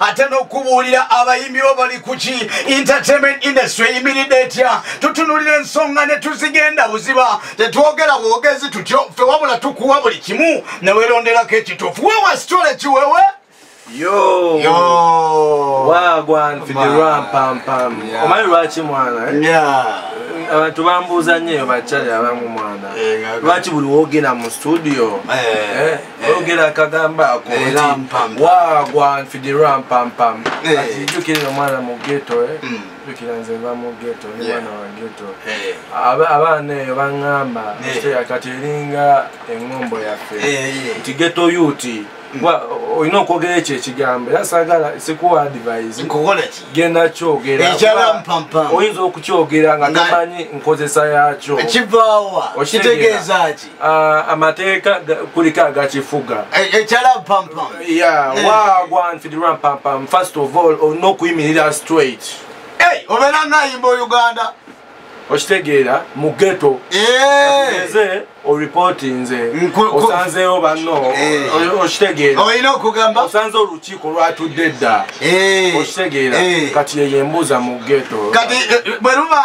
ate n'okubuulira abayimbi bo bali kuki entertainment industry eyimiridde etya tutunulira ensonga ne tuzigenda buziba tetwogera bwogezi tutyo ffe wabula tukuwa buli kimu ne weronderako ekituufu wewa sitole kiwewe Yo. Yo. Wow, go on for the run, pam, pam. Yeah. Omani lwachi mwana, eh? Yeah. abantu bambuuza nnyo eyo bakyali abamu mwana eh, lwaki buli woogenda mu studio eh. Eh. oyogera akagamba ako wagwanfidira mpampam jukira no mwana mu geto eh? mm. jukira nze va mu geto ni mwana wa geto abaana eyo baŋŋamba kati eringa eŋŋombo yaffe nti geto yuti olina okwogera ekyo ekigambo era sagala sikuwa advise genda kyogeraoyinza okukyogera nga tomanyi nkozesa yakyo kivaawa kitegeeza ki Ah, amateeka kuliko agakifuga eh, eh, eh. wagwanfidirwa mpampam first of all olina okuyimirira straight obeera ngayimba ouganda okitegeera mu geto eze oripoti nze osanzeewo banno okitegeeraolina okugamba osanze olukiiko lwatudde dda okitegeera kati yeyembuuza mu geto kati bweruba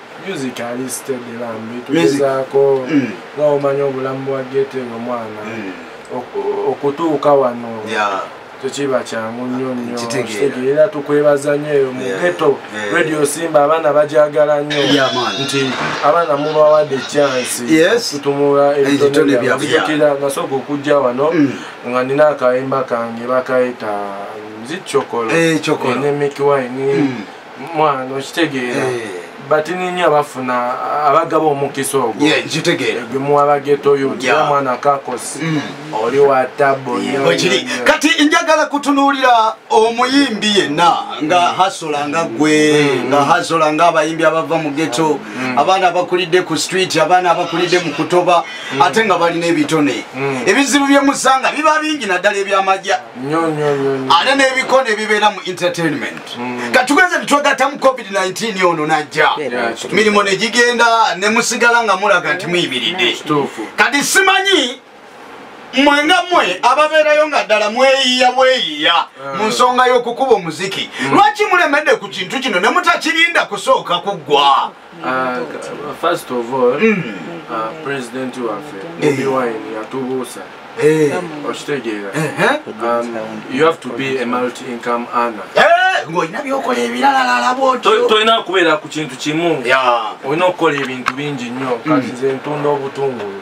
music ali steady lambi tugezaako mm. nga omanya obulamu bwa gete nga omwana mm. okutuuka wano tekiba kyangu nnyo nnyo kitegeera tukwebaza nnyo eyo mu geto radio simba abaana bajagala nnyo nti abaana mubawadde chansi tutumula ebitone byabujukira nasooka okujja wano mm. nga nina akayimba kange bakayita nzikyokolo eh, eh, ne mikiwine mm. mwana okitegeera eh. batini nnyo abafuna abagaba omukisa ogwo gwemuwa abagetoyo tira mwana kakosi mm. oli wa tabo kati njagala kutunuulira omuyimbi yenna nga mm. hasola nga gwe mm. nga hasola nga abayimbi abava mu geto abaana abakulidde ku street abaana abakulidde mu kutoba ate nga balina ebitone ebizibu byemusanga biba bingi naddala ebyamagya ate nebiko nebibeera mu entertainment mm. katugenze nitwegatamu covid-19 ono najja mirimu negigenda nemusigala nga mulaga nti muyimiridde kati simanyi mwe nga mwe ababeerayo nga ddala mweyiya bweyiya ah. mu nsonga y'okukuba omuziki mm. lwaki mulemedde ku kintu kino ne mutakirinda kusooka kuggwa Ah, ka- first of all ah, president waffe bobi wine yatubuusa Eh, okitegeera ehe. Um, you have to be a multi income earner Eh, ng'olina byokola ebiralalala bwotyo To- tolina kubeera ku kintu kimu Ya. olina okukola ebintu bingi nnyo kati nze ntunda obutungulu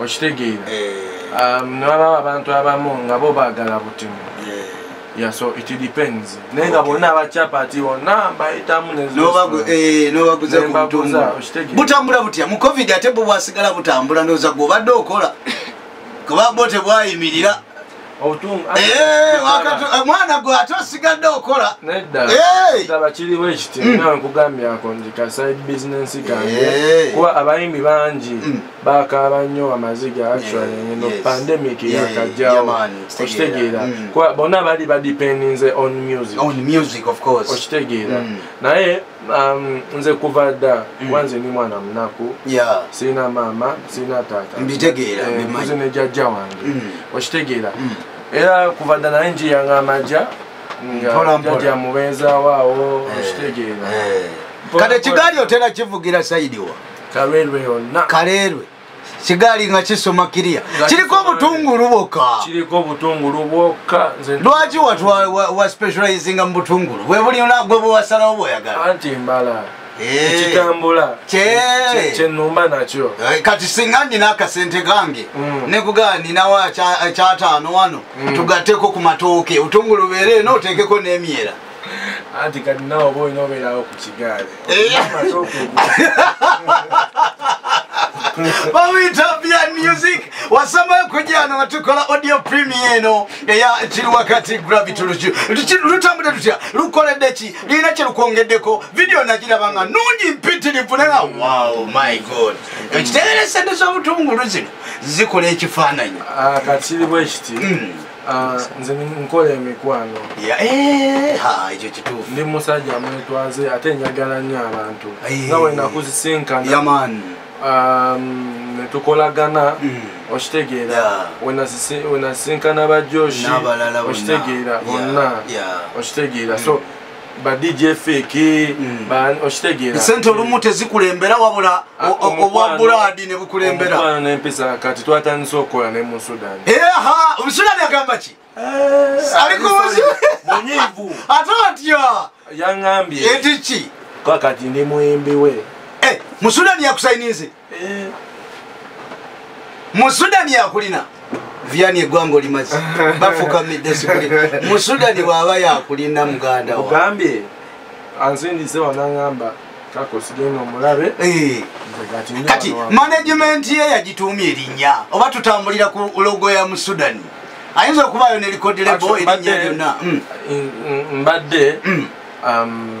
okitegeera eh. um, newabawo abantu abamu nga bo bagala butemu eh. Yeah, so it depends. Naye nga bonna abakyapa ati bonna mbayitamu nebaguza butambula butya mu covid ate bwe bwasigala butambula ndowooza gwe obadde okola kuba bo tebwayimirira Eh, eh, mwana gwe ate osigadde okola neddaabakiriwo eh! ekiti mm. nawe nkugambyako nti ka side business kange kuba abayimbi bangi mm. bakaaba nnyo amaziga actually ngeno pandemic yakajjawo okitegeera mm. kuba bonna bali badependinze on music okitegeera naye Um, nze kuva dda mm. kuba nze ndi mwana munaku sirina maama sirina taata mbitegeerakuzi eh, ne jajja wange mm. okitegeera mm. era kuva dda naye njiyanga amagya jajja mubeezaawo awo eh. okitegeera eh. kati ekigaali otera kivugira saidiwa kaleerwe yonna kaleerwe kigaali nga kisoma kiriya kiriko obutungulu bwokka kiriko obutungulu bwokka lwaki wa specializinga mu butungulu bwe buli gwe bwewasalawo bwoyagala anti mbala eh. ekitambula kyenumba nakyo eh, kati singa nina akasente kange mm. nekugaa ninawo kyataano wano mm. tugatteko ku matooke otungulu beere eno oteekeko n'emyera anti kati nawe oba olina obeerawo ku kigaali bamuyita bya music wasama okujyana nga tukola audio premier eno eya kiri wakati gravity lutambudde tutya lukoledde ki lirina kyelukwongeddeko vidiyo nagiraba nga nungi mpitirivu naga wow my god ekitegeresa nti z'obutungulu zino zikola ekifaananyi ah, kati kiri bwekiti hmm. Ah, nze nkola emikwano eh, ekyo kituufu ndi musajja mwetwaze ate njagala nnyo abantu eh. nga wenakuzisinkana um, netukolagana mm. okitegeera wenasisinkana bajoshi okitegeera bonna okitegeera so mm. ba DJ Fiki mm. ba oshitegera sente olumu tezikulembera wabula ah, obwa Brad ne bukulembera omwana ne mpesa kati twatandise okola ne mu Sudan eh ha mu Sudan yagamba ki eh, ali ko munyivu atotya yangambye etichi kwa kati ni mwembi we eh mu Sudan yakusaininze eh. musudani yakulina vyani egwanga olimazi bafukamidde sikuli musudani waba yakulina muganda ogambye anzindize wanangamba Eh. kati management ye yagituumya erinnya oba tutambulira ku logo ya mu sudan ayinza okubaayo nelikodilebo erinnya lyonna mm. mbadde mm. Um,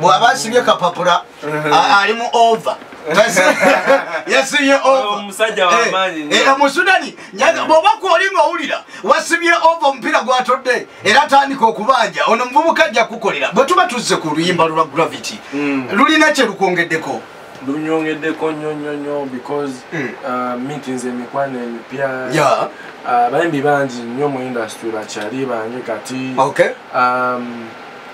bwaba asibye kapapula ali mu ova yasibye omusudani eh, eh, eh, bwoba kwoli nga owulira wasibye ova omupiira gwatodde era atandika okubanja ono muvubuka ajja kukolera bwe tuba tuzze ku luyimba lwa gravity hmm. lulina kyelukwongeddeko lunyongeddeko nyo nyo nyo because hmm. uh, meetings emikwano emipya uh, bayimbi bangi nyo mu industry bakyali bange kati um,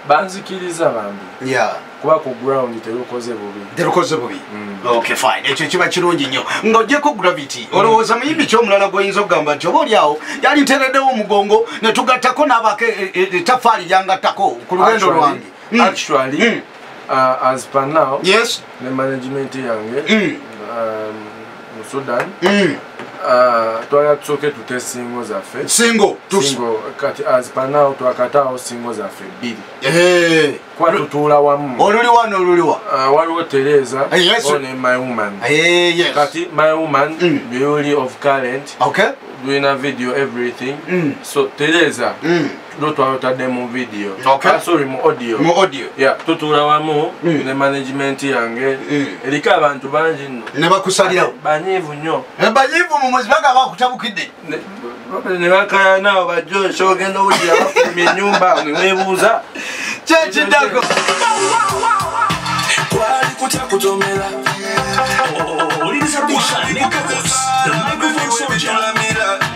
banzikiriza bambi yeah. kuba ku ground terukoze bubi terukoze bubi mm. okay fine ekyo kiba kirungi nnyo ng'ogyeko gravity mm. olowooza muyimbi kyomulala gwoyinza okugamba nti oba olyawo yali ntereddewo omugongo ne tugattako n'abako etafaali e, e, e, lyangattako ku lugendo lwange mm. actually mm. uh, as per now yes ne management yange mm. um, mu sudan mm. uh, twala tusoke tute singo zaffe singo singo kati as per now twakataawo singo zaffe bbiri eh. kuba tutuula wamu oluli wano oluliwa uh, waliwo tereza eh, oh, ne my woman eh, kati my woman mm. beauty of current okay. doing a video everything mm. so tereza mm. Tulo twalotadde mu video. Okay. Ah, sorry mu audio. Mu audio. Yeah, tutuula wamu mm. ne management yange. Mm. Erika abantu bangi nno. Ne bakusalirawo. Banyiivu nnyo. Ne banyiivu mu muzi baga bakutabukidde. Ne bakaya naawo bajjo nsi ogenda owulira bafulumya ennyumba ne weebuuza. Kyekiddako. Kwali kutya kutomera. Owuliriza oh, oh, oh, Bushani Records. The microphone soldier.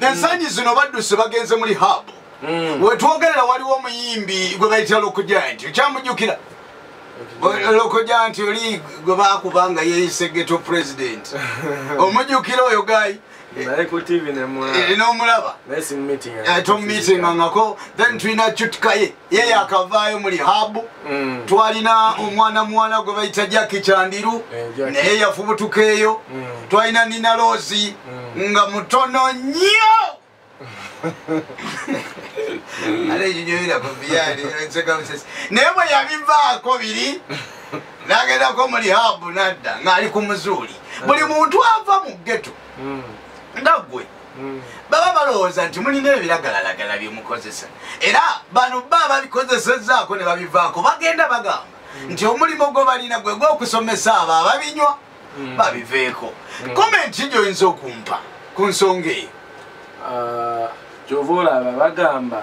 ensangi zino baddusi bagenze muli haabu mm. wetwogerera waliwo omuyimbi gwe bayitira lokojaya nti okyamujukira lokoja nti oli gwe bakuba nga yeyise geto president omujukira oyo gayi nomulaba tomumitingangako then tulina cutkaye ye yakavaayo mu lihabu mm. twalina omwana muwala gwe bayita jaki kyandiru eh, naye yafubutukaeyo mm. twalina nina loozi mm. nga mutono nnyo naye bwe yabivaako biri nagendako mu lihabu nadda ng'ali ku muzuuli buli muntu ava mu geto nga gwe hmm. baba balowooza nti mulina ebiragalalagala byemukozesa era bano ba babikozesezaako ne babivaako bagenda bagamba hmm. nti omulimu gwe balina gwe gwokusomesa abo ababinywa hmm. babiveeko komenti gyoyinza okumpa ku nsonga eyo ah, kyova olaba bagamba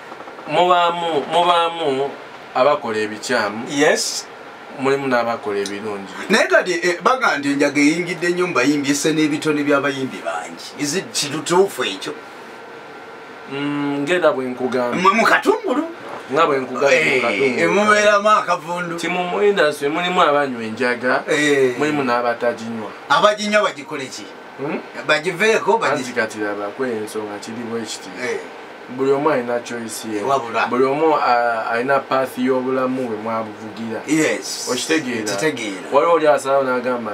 mubaamu mubaamu abakola ebikyamu yes mulimu n'abakola ebirungi naye kati eh, baga nti enjaga eyingidde nnyo mu bayimbi ese n'ebitone by'abayimbi bangi izi kitutuufu ekyo mm, ngera bwe nkugamba mu katungulu nga bwe nkugamubeeramu eh, akavundu ti mu industry mulimu abanywa enjaga eh. mulimu n'abataginywa abaginywa bagikole ki hmm? bagiveeko banzikatira bakweyo ensonga kiri bwekiti eh. buli omu alina choice ye buli omu alina path y'obulamu bwe mwabuvugira okitegeera waliwo oli asalawo n'agamba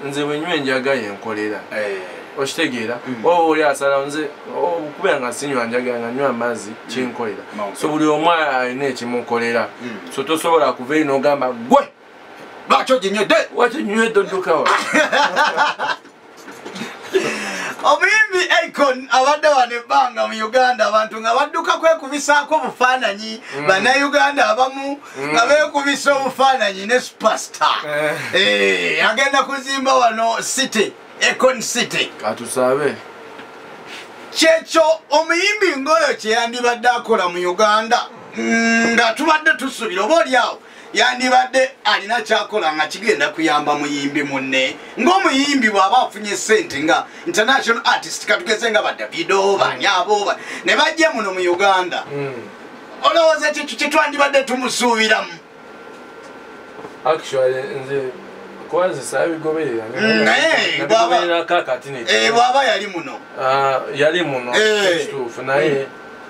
nze bwenywa enjaga yenkolera eh. okitegeera hmm. oba oli asalawo nze okubeera nga sinywa njaga nga nywa amazzi hmm. kinkolera so buli omu alina ekimukolera hmm. so tosobola kuva eri n'ogamba gwe lwaki oginywedde lwaki oginywedde oddukawa omuyimbi icon abadde wano ebbanga mu uganda abantu nga badduka kwekubisaako obufaananyi mm. bannayuganda abamu mm. nga beekubisa obufaananyi ne supasita eh. eh, agenda kuzimba wano city econ city atusabe kyekyo omuyimbi ngaoyo kyeyandibadde akola mu uganda mm, nga tubadde tusubira oba olyawo yandibadde alina kyakola nga kigenda kuyamba muyimbi munne ngaomuyimbi bwaba afunye sente nga international artist katugeze nga badavido banyabo ne bajja muno mu uganda hmm. olowooza kyekyo kyetwandibadde tumusuubiramu bwaba yali muno ah, yali muno eh. kituufu naye hmm.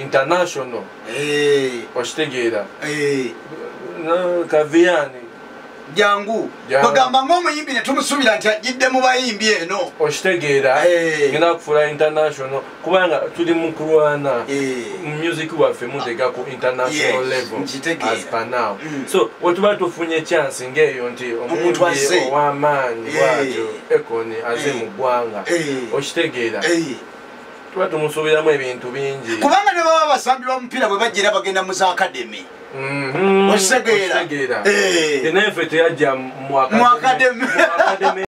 international Eh, okitegeera eh. Na- kaviyani jangu Jangu. kwegamba ngaomuyimbi netumusubira nti ajjidde mu bayimbi eno okitegeera Eh. ngenda kufuula international kubanga tuli mu kulwana Eh. mu music waffe mutega ku international Yes, level nkitegeera. as per now Mm. so wetuba tufunye chance ng'eyo nti Omuntu azze. omuyimbi ow'amaanyi Eh. bwatyo ekoni aze Eh. mu ggwanga Eh. okitegeera Eh, tuba tumusuubiramu ebintu bingi kubanga ne baba basambi ba mupiira bwe bajjira bagenda mu za akademi mhm. okitegeera naye ffe teyajja mu akademi